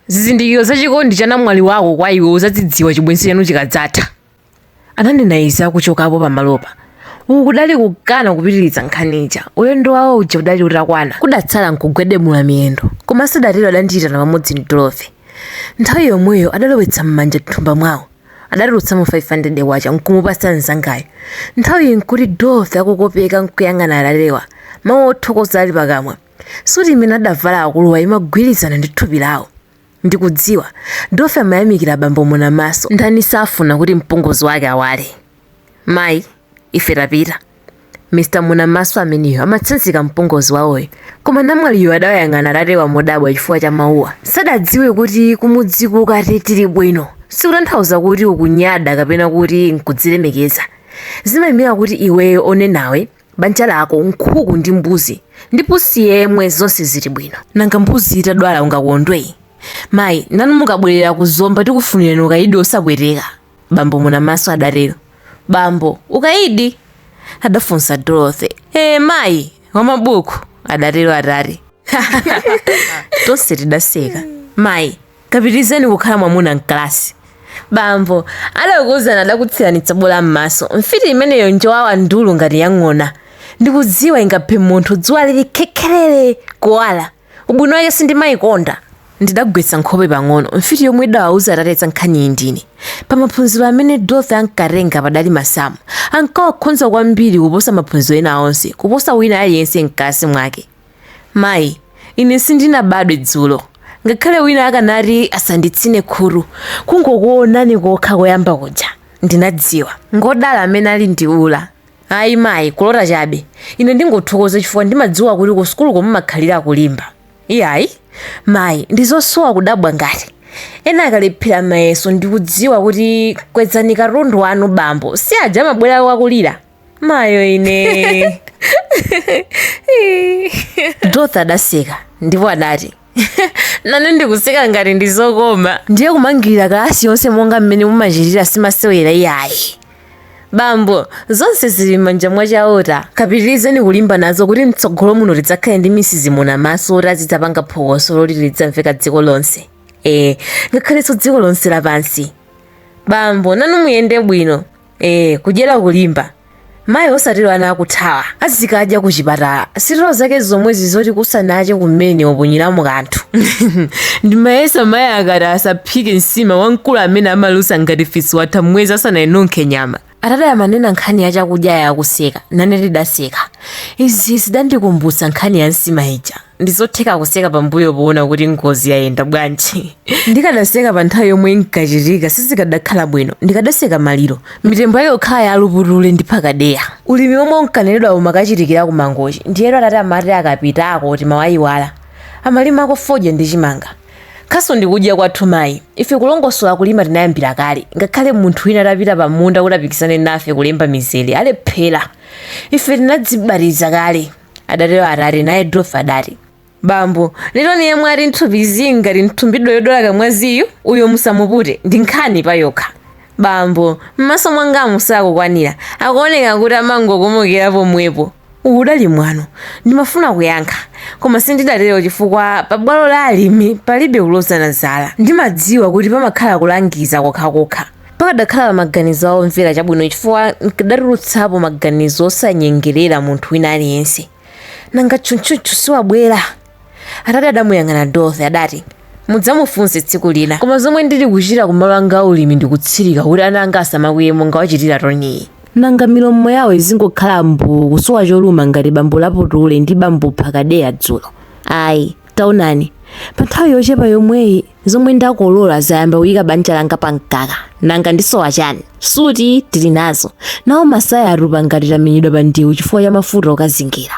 Zizindikiro za chikondi cha namwali wako kwa iwe uzadzidziwa chibwenzi chanu chikadzatha. Ananena izi akuchokapo pamalopa. Uku kudali kukana kupitiriza nkhani ija. Ulendo wawo uja udali utakwana. Kudatsala nkugwedemula miyendo. Koma asadatero adandiitana pamodzi ndi Dorothy. Nthawi yomweyo adalowetsa manja m'thumba mwawo. Adatulutsamo 500 kwacha nkumupatsa mzangayo. Nthawi iyi nkuti Dorothy akukopeka nkuyang'ana atatewa. Mawu othokoza ali pakamwa. Suti imene adavala akuluwa imagwirizana ndi thupi lawo. Ndikudziwa. Dorothy amayamikira bambo Munamaso. Ndani safuna kuti mpongozi wake awale? Mayi, ife tapita. Mr. Munamaso ameneyo, amatsanzika mpongozi wawoyo. Koma namwaliyo adawayang'ana atatewa modabwa chifukwa cha mawuwa. Sadadziwe kuti kumudziko ukati tili bwino sikutanthauza kuti ukunyada kapena kuti n'kudzilemekeza. Zimaimira kuti iweyo onenawe banja lako nkhuku ndi mbuzi ndi pusi yemwe zonse zili bwino nanga mbuzi itadwala ungakondwe mayi nanu mukabwerera ku zomba tikufunirani ukayidi osapweteka bambo munamaso adatero bambo ukayidi adafunsa dorothy ee mayi wamabuku adatero atate tonse tidaseka mayi Kapitirizeni kukhala mwamuna m'kalasi. Bambo, adakuuzani adakutsirani tsabola m'maso. Mfiti imeneyo njowawa ndulu ngati ya ng'ona. Ndikudziwa ingaphe munthu dzuwa lili khekherere! Kuwala! Ubwino wake sindimaikonda. Ndidagwetsa nkhope pang'ono. Mfiti yomwe idawauza atate za nkhaniyi ndine. Pa maphunziro amene Dorothy ankatenga padali masamu. Ankawakhonza kwambiri kuposa maphunziro ena onse, kuposa wina aliyense m'kalasi mwake. Mayi, ine sindinabadwe dzulo. Ngakhale wina akanati asanditsine khutu, kungokuonani kokha koyamba kuja, ndinadziwa. Ngodala amene ali ndi ula. Ayi, mayi, kulota chabe. Ine ndingothokoza chifukwa ndimadziwa kuti ku sukuluko mumakhalira kulimba. Iyayi, mayi, ndi zosowa kudabwa ngati. Ena akalephera mayeso ndi kuuzidwa kuti kwezani katundu wanu bambo, si aja amabwera akulira? mayo ine dorothy adaseka ndipo atate nane ndikuseka ngati ndi zokoma ndiye kumangirira kalasi yonse monga mmene mumachitira simasewera iyayi bambo zonse zili m'manja mwa chauta kapitirizeni kulimba nazo kuti mtsogolo muno tidzakhale ndi mrs munamaso oti azidzapanga phokoso loti lidzamveka dziko lonse ee ngakhalenso dziko lonse lapansi bambo nanu muyende bwino ee kudyera kulimba mayi osatero ana akuthawa azikadya ku chipatala sitero zake zomwezi zoti kusanache kumene waponyeramo kanthu ndimayesa mayi akati asaphike nsima wamkulu amene amalusa ngati fisi watha mwezi asanayinunkhe nyama atate amanena nkhani ya chakudyayi akuseka nane tidaseka izi zidandikumbutsa nkhani ya nsima ija ndizotheka kuseka pambuyo poona kuti ngozi yayenda bwanji ndikadaseka pa nthawi yomwe inkachitika sizikadakhala bwino ndikadaseka maliro mitembo yake kukhala ya a laputule ndi phakadeya ulimi womwe unkanenedwa umakachitikira ku mangochi ndiyetu atate amati akapitako timawayiwala amalimako fodya ndi chimanga khasu ndi kudya kwathu mayi ife kulongosola kulima tinayambira kale ngakhale munthu wina atapita pa munda kuti apikisane nafe kulemba mizere alephera ife tinadzibatiza kale adatero atate naye dorothy adati bambo ndi toni yemwe ali m'thupi zii ngati nthumbidwa yodwala kamwaziyu uyo musamupute ndi nkhani pa yokha bambo m'maso mwangamu sakukwanira akuoneka kuti amangokomokera pomwepo uwu udali mwano ndimafuna kuyankha koma sindidatero chifukwa pa bwalo la alimi palibe kulozana zala ndimadziwa kuti pamakhala kulangiza kokhakokha pakadakhala pa maganizo a omvera chabwino chifukwa nkadatulutsapo maganizo osanyengerera munthu wina aliyense nanga tchuntchuntchu siwabwera atate adamuyang'ana dorothy adati mudzamufunse tsiku lina koma zomwe ndili kuchita kumalo anga aulimi ndikutsirika kuti ana anga asamakwiye monga wachitira toniyi nanga milomo yawo izingokhala mbuu kusowa choluma ngati bambo laputule ndi bambo phakadeya dzulo ayi Taonani, pa nthawi yochepa yomweyi zomwe ndakolola zayamba kuyika banja langa pa mkaka. Nanga ndisowa chani? Suti tili nazo, nawo masaya atupa ngati tamenyedwa pa ndewu chifukwa cha mafuta okazingira.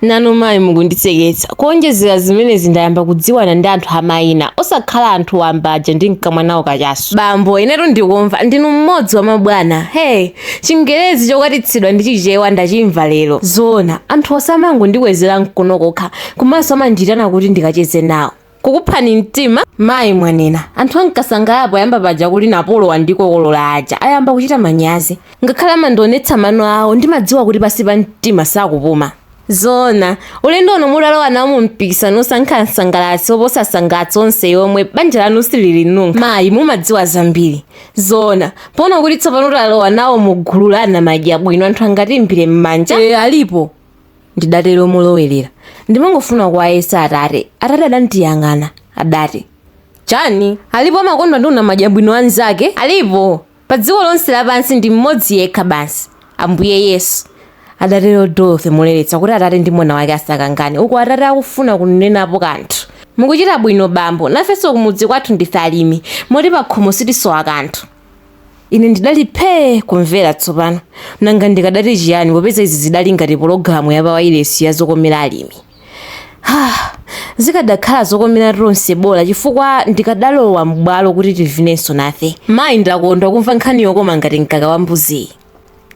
nanu mayi mukunditseketsa kuonjezera zimenezi ndayamba kudziwana ndi anthu amayina osakhala anthu wamba aja ndinkamwa nawo kachasu bambo inetu ndikumva ndinu mmodzi wa mabwana hee chingerezi chokwatitsidwa ndi chichewa ndachimva lero zoona anthu osamangondikwezera mkono kokha komanso amandiitana kuti ndikacheze nawo. Kukuphani mtima? Mayi mwanena. Anthu ankasangala poyamba paja kuti Napolo wandikokolola aja ayamba kuchita manyazi. Ngakhale amandionetsa mano awo ndimadziwa kuti pansi pa mtima sakupuma. Zoona. Ulendo uno mutalowa nawo mu mpikisano wosankha msangalatsi woposa asangalatsi onse yomwe banja lanu sililinunka. Mayi, mumadziwa zambiri. Zoona. Poona kuti tsopano talowa nawo mu gulu la anamadya bwino anthu angatiimbire m'manja. Ee alipo. ndidatero molowerera. Ndimangofuna kuwayesa atate. Atate adandiyang'ana. Adati. Chani? Alipo amakondwa ndi unamadya bwino wa mnzake? Alipo? Padziko lonse lapansi ndi mmodzi yekha basi. Ambuye Yesu. Adatero Dorothy moleletsa kuti atate ndi mwana wake asakangane uku atate akufuna kunenapo kanthu. Mukuchita bwino bambo. Nafenso kumudzi kwathu ndife alimi, moti pakhomo sitisowa kanthu. Ine ndidali phee kumvera tsopano. Nanga ndikadati chiyani popeza izi zidali ngati pologalamu ya pawailesi ya zokomera alimi. Ha! Zikadakhala zokomera tonse bola chifukwa ndikadalowa m'bwalo kuti tivinenso nafe. Mayi ndakondwa kumva nkhani yokoma ngati mkaka wa mbuziyi.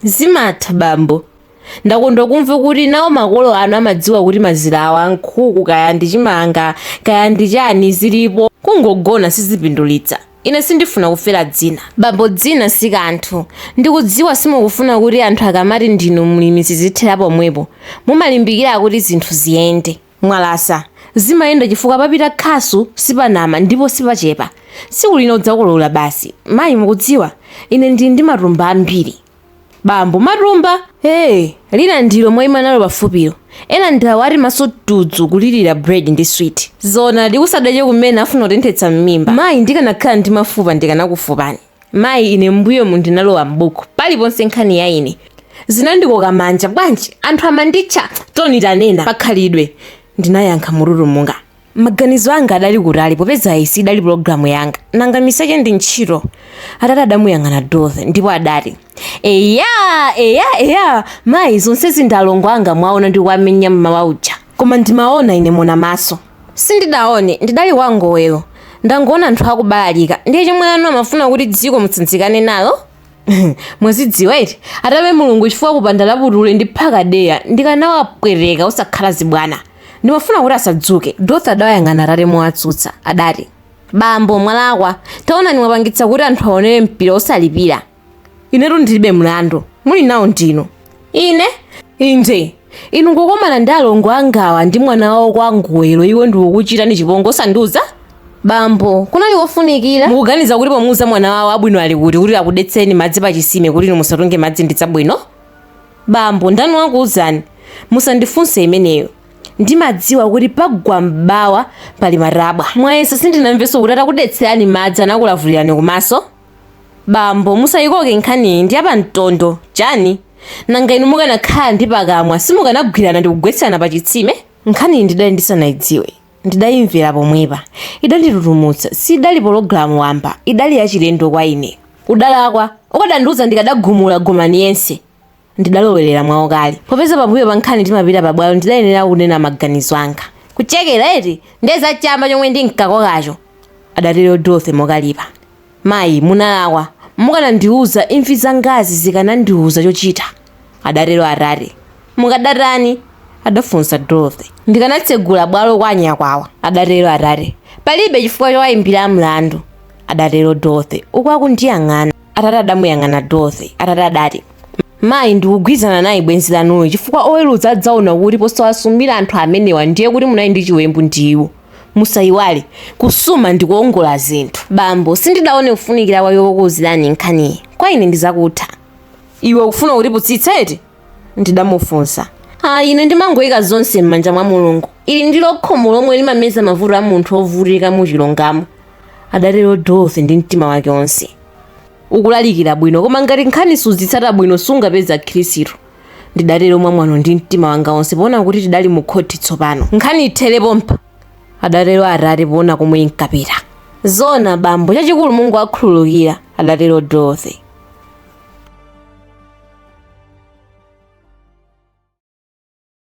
Zimatha bambo. Ndakondwa kumva kuti nawo makolo anu amadziwa kuti mazira awa, nkhuku kaya ndi chimanga kaya ndi chani zilipo kungogona sizipindulitsa. Ine sindifuna kufera dzina. Bambo dzina si kanthu. Ndikudziwa simukufuna kuti anthu akamati ndinu mlimi zizithera pomwepo. Mumalimbikira kuti zinthu ziyende. Mwalasa. Zimayenda chifukwa papita khasu, sipanama ndipo sipachepa. Tsiku lina udzakolola basi. Mayi mukudziwa, ine ndili ndi matumba ambiri. Bambo matumba ee lina ndilo mwaima nalo pafupilo ena ndiawa ati maso tudzu kulilira bread ndi sweet zoonadi kusadya kumene afuna kutenthetsa mmimba mayi ndikanakhala ndi mafupa ndikanakufupani mayi ine mmbuyomu ndinalowa m'buku paliponse nkhani ya ine zinandikoka manja bwanji anthu amanditcha toni tanena pakhalidwe ndinayankha motutumuka maganizo anga adali kutali popeza iyi siidali pulogalamu yanga nanga miseche ndi ntchito atate adamuyang'ana dorothy ndipo adati eya eya eya mayi zonsezi ndi alongo anga munaona ndi kuwamenya mmawa uja koma ndimaona ine mona maso sindidaone ndidali kwa ngowero ndangoona anthu akubalalika ndiye chomwe inu mumafuna kuti dziko mutsanzikane nalo mwazidziwa iti athokoze mulungu chifukwa kupanda labutule ndi phakadeya ndikanawapweteka osakhala zibwana ndimafuna kuti asadzuke dorothy adawayang'ana atate mowatsutsa nati bambo mwalakwa taonani mwapangitsa kuti anthu aonere mpira osalipira inetu ndilibe mlandu muli nawo ndinu Ine? Inde. Inu kukomana ndi alongo angawa ndi mwana wawo kwa ngowero, iwo ndikukuchitani chipongwe osandiuza? Bambo, kunali kofunikira? Mukuganiza kuti pomuuza mwana wawo abwino ali kuti kuti akudetsereni madzi pa chitsime kuti inu musatunge madzi ndi zabwino? Bambo, ndani wakuuzani? Musandifunse imeneyo. Ndimadziwa kuti pagwa m'bawa pali matabwa. Mwayesa sindinamvenso kuti atakudetserani madzi anakulavulirani kumaso? Bambo, musayikoke nkhaniyi ndi ya pa mtondo, chani? Nanga inu mukanakhala ndi pakamwa simukanagwirana ndikugwetserana pa chitsime? Nkhaniyi ndidali ndisanayidziwe, ndidayimvera pomwepa. Idanditutumutsa, siidali pologalamu wamba, idali yachilendo kwa ine. Udalakwa, ukadandiuza ndikadagumula Gomani yense. Ndidalowerera mwaukali. Popeza pambuyo pa nkhani timapita pabwalo ndidayenera kunena maganizo anga. Kuchekera eti? Ndiye za chamba chomwe ndinkakokacho! adatero Dorothy mokalipa. Mayi, munalakwa. Mukanandiuza, imvi zangazi zikanandiuza chochita, adatero atate. Mukadatani? adafunsa Dorothy. Ndikanatsegula bwalo kwa anyakwawa, adatero atate. Palibe chifukwa chowaimbira mlandu, adatero Dorothy uku akundiyang'ana. Atate adamuyang'ana Dorothy. Atate adati. Mayi ndikugwirizana naye bwenzi lanuyo chifukwa oweruza adzaona kuti posawasumira anthu amenewa ndiye kuti munali ndi chiwembu ndi iwo. Musayiwale, kusuma ndi kuwongola zinthu. Bambo, sindidaone kufunikira kwake kokuuzirani nkhaniyi. Kwa ine ndi zakutha. Iwe ukufuna kutiputsitsa eti? ndidamufunsa. Ine ndimangoyika zonse m'manja mwa Mulungu. Ili ndilo khomo lomwe limameza mavuto a munthu wovutika mu chilungamo, adatero Dorothy ndi mtima wake wonse. ukulalikira bwino koma ngati nkhani suzitsata bwino sungapeza akhirisitu ndidatero mwamwano ndi mtima wanga wonse poona kuti tidali mu khoti tsopano nkhani ithere pompa adatero atate poona komwe inkapita zona bambo chachikulu Mulungu akhululukira adatero dorothy